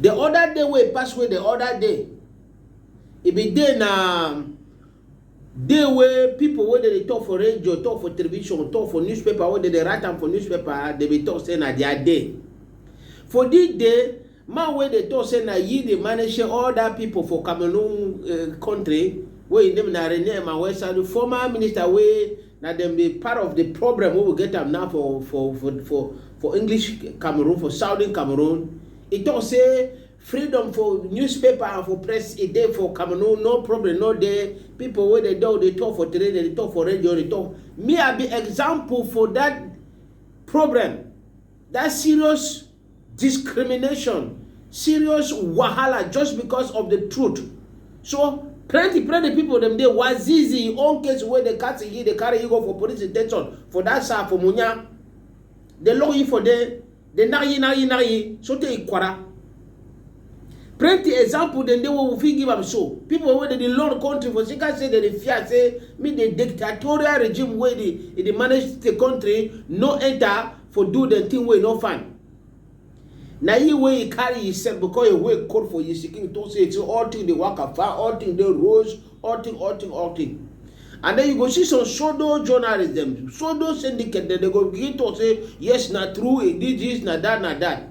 The other day wey pass wey the other day, e be day na day wey people wey dey talk for radio, talk for television, talk for newspaper, wey dey write am for newspaper, dey be talk say na their day. For this day, man wey dey talk say na he dey manage all that people for Cameroon uh, country, wey his name na Rene Emmanuel Sadu, former minister wey Na dem be part of the problem wey we get am now for for for for for English Cameroon, for southern Cameroon. E talk say freedom for newspaper and for press e dey for Cameroon, no problem no dey. People wey dey don dey talk for train, dem dey talk for radio, dey talk. Me I be example for that problem. That serious discrimination, serious wahala just because of the truth. So plenty plenty people dem dey wazizi im own case wey dey catch him dey carry him go for police detention for that side for munya dey lock him for there dey knack him knack him knack him sotey ikwara plenty example dem dey wey we fit give am so people wey dey dey learn country for sika say dem dey fear say make the dictatorial regime wey dey e dey manage the country no enter for do the thing wey no fine na you wey you carry yourself because your way call for your seeking to say say all thing dey work far all thing dey rose all thing all thing all thing and then you go see some pseudo journalists dem pseudo syndicate dem dey go begin talk say yes na true e did this na that na that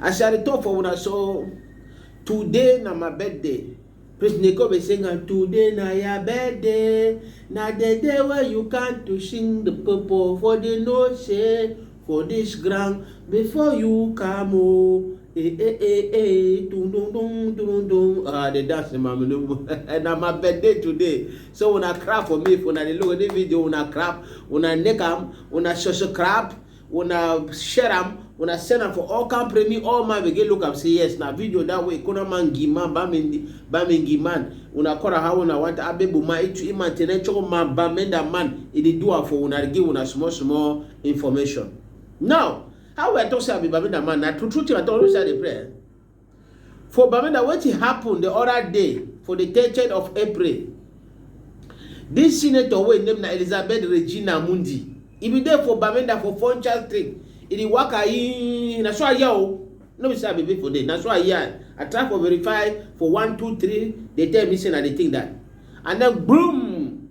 As I dey talk for una so, today na my birthday. Prince Neko be sing am, today na your birthday, na the day wey you come to sing the people for the know say for this ground before you come o. Oh, eh eh eh eh, dun dun dun dun dun. Ah, the dance in my menu. na my birthday today. So una clap for me if una dey look at this video, una clap, una neck am, una subscribe. una share am una send am for all camp remi all man begin look am say yes na video that way kona man gi man ba mi ba mi gi man una kora how una want abebu ma itu iman tene choko man ba menda man e dey do am for una give una small small information now how we talk say abi ba menda man na true true thing i talk always say i dey pray. For Bamenda, wetin happen the other day for the 30th of April, this senator wey name na Elizabeth Regina Mundi, e bin dey for Bamenda for Funchal Street, e dey waka in, na so I hear o, no be say I be people dey, na so I hear, I try for verify for one, two, three, dey tell me say na the thing that, and then boom!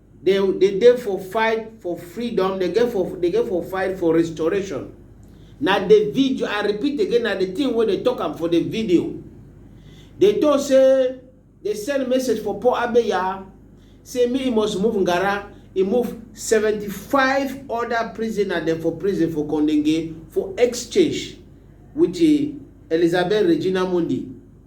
Dey dey dey for fight for freedom, dey get for dey get for fight for restoration. Na the video, I repeat again, na the thing wey dey talk am for the video. Dey talk say dey send message for Paul Abeya say make he must move Ngara, he move seventy five other prisoner dem for prison for Kondenge for exchange with Elizabeth Regina Mundi.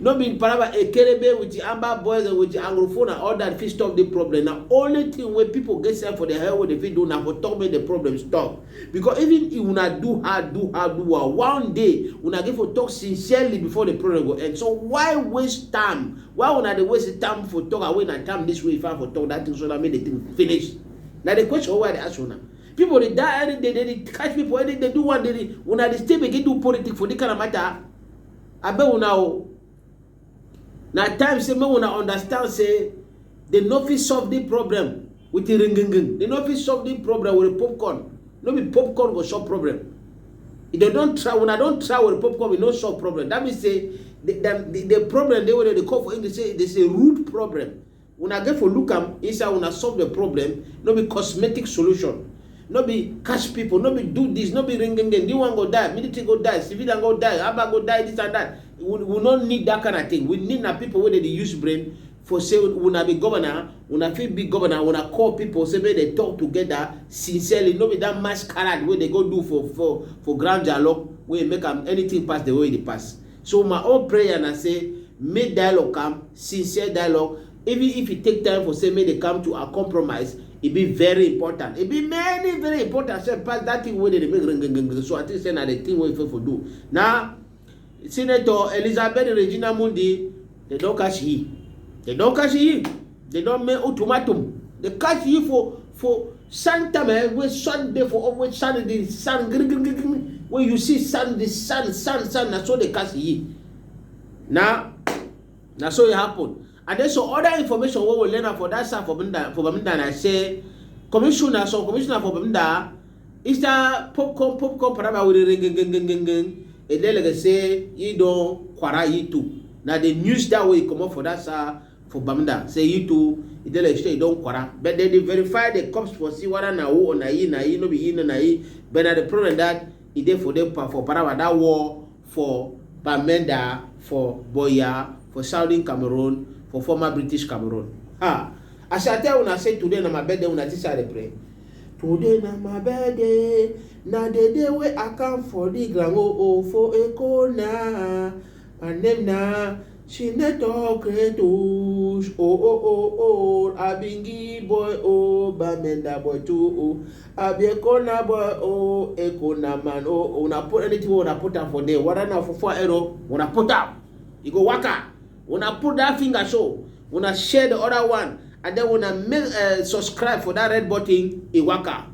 No be palava Ekerebe with the Amba boys and with the Anglofo na all that fit stop the problem. Na only thing wey people get self for their head wey dey fit do na for talk make the problem stop. Because even if una do hard, do hard, do hard, one day una get for talk sincerely before the problem go end. So why waste time? Why una dey waste time for talk away na time this way if I for talk that thing so that make the thing finish? Na the question wey I dey ask una. People dey die any day, they dey catch people any day, do one day, una dey still begin do politics for this kind of matter? Abeg una o, na time say make una understand say dem no fit solve the problem with the ringinging, dem no fit solve the problem with the popcorn, no be popcorn go solve problem. If dem don try, una don try with the popcorn, e no solve problem. That means say the, the, the problem dey wey dem dey call for English say it is a rude problem. Una get for look am inside una solve the problem no be cosmetic solution no be catch people no be do this no be ring ring this one go die military go die civilian go die abba go die this and that we, we no need that kind of thing we need na people wey dey use brain for say una be governor una fit be governor una call people say make dem talk together sincerely no be that masquerade wey dey go do for for for ground dialogue wey make am anything pass the way e dey pass. So my own prayer na say make dialogue come, sincere dialogue, even if e take time for say make dem come to a compromise, e be very important. E be many very important sef pass that thing wey dem dey make ringinging. So I think say na the thing wey we fit for do. Na Senator Elizabeth Regina Mundi They don't catch ye. They don't catch ye. They don't make ultimatum. They catch ye for for sun time eh, wey sun dey for always sun dey sun green green green when you see sun dey sun sun sun na so dey catch ye. Na na so e happen. And then some other information wey we learn am for that side for Bamenda for Bamenda na say commissioner some commissioner for Bamenda It's a popcorn, popcorn, paraba with the And then like I say, you don't quara you too. Now the news that way come up for that sir for Bamda. Say you too, it like say you don't quara. But then they verify the cops for see what na who or na ye, na ye, no be ye, no na ye. But now the problem that it there for them for paraba that war for Bamenda for Buea for southern Cameroon for former British Cameroon. Ha! As I tell una say today na my birthday, una think say I dey pray? Today na my birthday, na the day wey I come for the ground oh oh for Eko na. My name na Senator Kretush oh oh oh oh, I be Ngi boy oh, Bamenda boy too oh. I be a corner boy, oh, a corner man, oh, when I put anything, when I put up for there, what I know for four arrow, when I put up, you go waka. When I put that finger show, when I share the other one, and then when I make, uh, subscribe for that red button, it waka.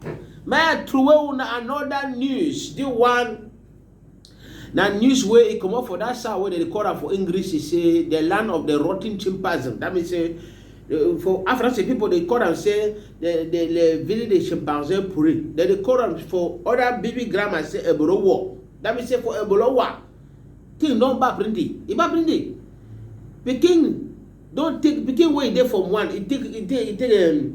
Man, through another news, the one Na news wey e comot for that side wey dem dey call am for English say the land of the rotten chimpanzee. That means say eh, for Africa say people dey call am say the the the village the chimpanzee puri. Dem dey call am for other baby grammar say ebolo war. That means say for ebolo war, thing don bad plenty. E bad plenty. Pikin don take pikin wey e dey from one, e take e take e take um,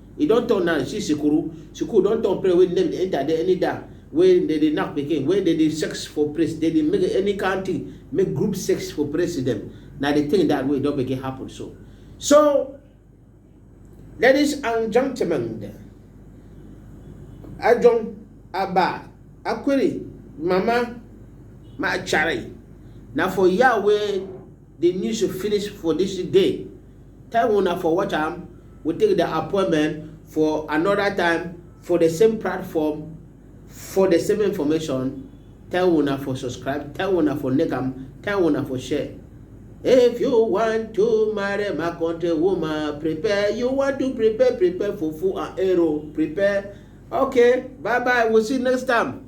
E don turn now, you see Sikuru, Sikuru don turn place wey name dey enter there any da wey dem dey knack pikin, wey dem dey sex for place, dem dey make any kind thing, make group sex for place dem, na the thing that wey don begin happen so. So, ladies and gentlemen, Ajong, Aba, Akwiri, Mama, Machari, na for here wey The news finish for this day, time una for watch am we take the appointment for another time for the same platform for the same information tell una for subscribe tell una for like am tell una for share if you want to marry my country woman prepare you want to prepare prepare for full and arrow prepare okay bye bye we'll see you next time